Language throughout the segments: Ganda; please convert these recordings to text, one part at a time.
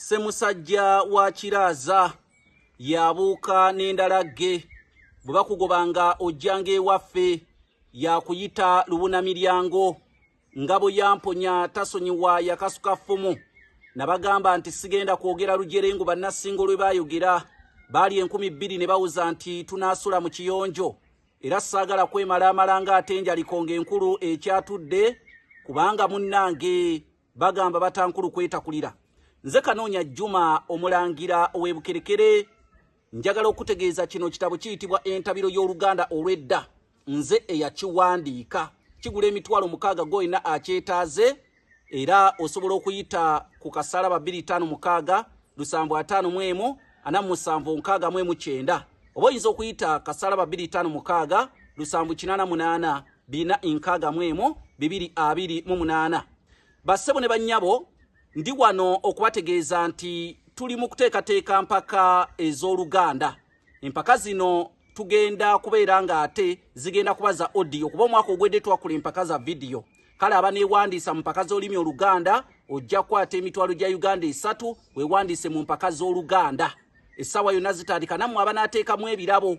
ssemusajja wa kiraaza yabuuka n'endala gge bwe bakugoba nga ojjanga ewaffe yakuyita lubuna miryango nga bwe yamponya tasonyiwa yakasuka ffumu nabagamba nti sigenda kwogera lujerengu bannasingo lwe baayogera baali enkumi bbiri ne bawuza nti tunaasula mu kiyonjo era saagala kwemala amalanga atenjalikonga enkulu ekyatudde kubanga munnange bagamba batankulu kwetakulira nze kanoonya juma omulangira ow'ebukerekere njagala okutegeeza kino kitabo kiyitibwa entabiro y'oluganda olw'edda nze eyakiwandiika kigula emitwalo mukaaga goyina akyetaaze era osobola okuyita ku kasaala ba 256 lusanvu ataano mu emu ana musanvu nkaaga mu emu kyenda oba oyinza okuyita kasaala ba 256 lusanvu kinaana munaana bina nkaaga mu emu bibiri abiri mu munaana bassebo ne bannyabo ndi wano okubategeeza nti tuli mu kuteekateeka mpaka ez'oluganda empaka zino tugenda kubeera nga ate zigenda kuba za odiyo kuba omwaka ogwedde twakula empaka za vidiyo kale abaneewandiisa mu mpaka z'olulimi oluganda ojja kukwata emitwalo gya uganda esatu wewandiise mu mpaka z'oluganda essaawa yonna zitandika nammwe abanaateekamu ebirabo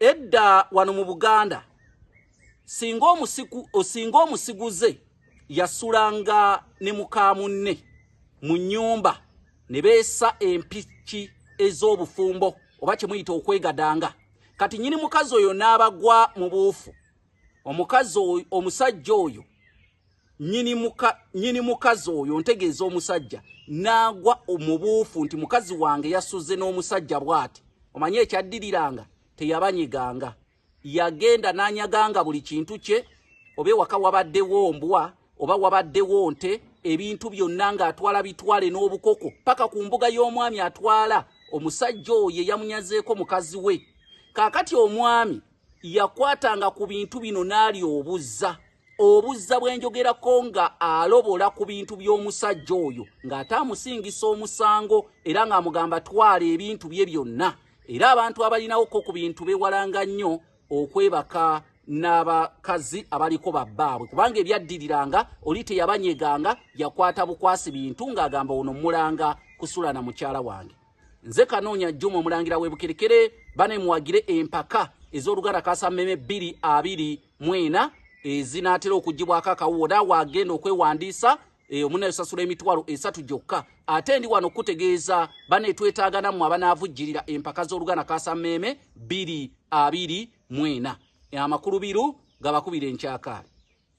edda wano mu buganda singa omusiku osinga omusiguze yasulanga ne mukamunne mu nyumba ne beesa empiki ez'obufumbo oba kyemuyita okwegadanga kati nyini mukazi oyo n'abagwa mu buufu omukazi omusajja oyo nyini muka nyini mukazi oyo ntegeeza omusajja nagwa omubuufu nti mukazi wange yasuze n'omusajja bwati omanyi ekyaddiriranga teyabanyiganga yagenda nanyaganga buli kintu kye oba ewaka wabaddewo mbwa oba wabaddewo nte ebintu byonna ng'atwala bitwale n'obukoko paka ku mbuga y'omwami atwala omusajja oyo eyamunyazeeko mukazi we kaakati omwami yakwatanga ku bintu bino n'ali obuzza obuzza bwenjogerako nga alobola ku bintu by'omusajja oyo ng'ate amusingisa omusango era ng'amugamba twala ebintu bye byonna era abantu abalinawoko ku bintu bewalanga nnyo okwebaka n'abakazi abaliko babbaabwe kubanga ebyaddiriranga oli teyabanyeganga yakwata bukwasi bintu ng'agamba ono mulanga kusula na mukyala wange nze kanoonya juma omulangira webukerekere bane muwagire empaka ez'oluganda kasa meme bbiri abiri mwena ezinaatera okugibwako akawuwo naawe agenda okwewandiisa e, omunayosasula emitwalo esatu gyokka ate ndi wano okukutegeeza banetwetaagana mu abanaavujjirira empaka z'oluganda kasa meme bbiri abiri mwena e, amakulu biru gabakubira enkyakaali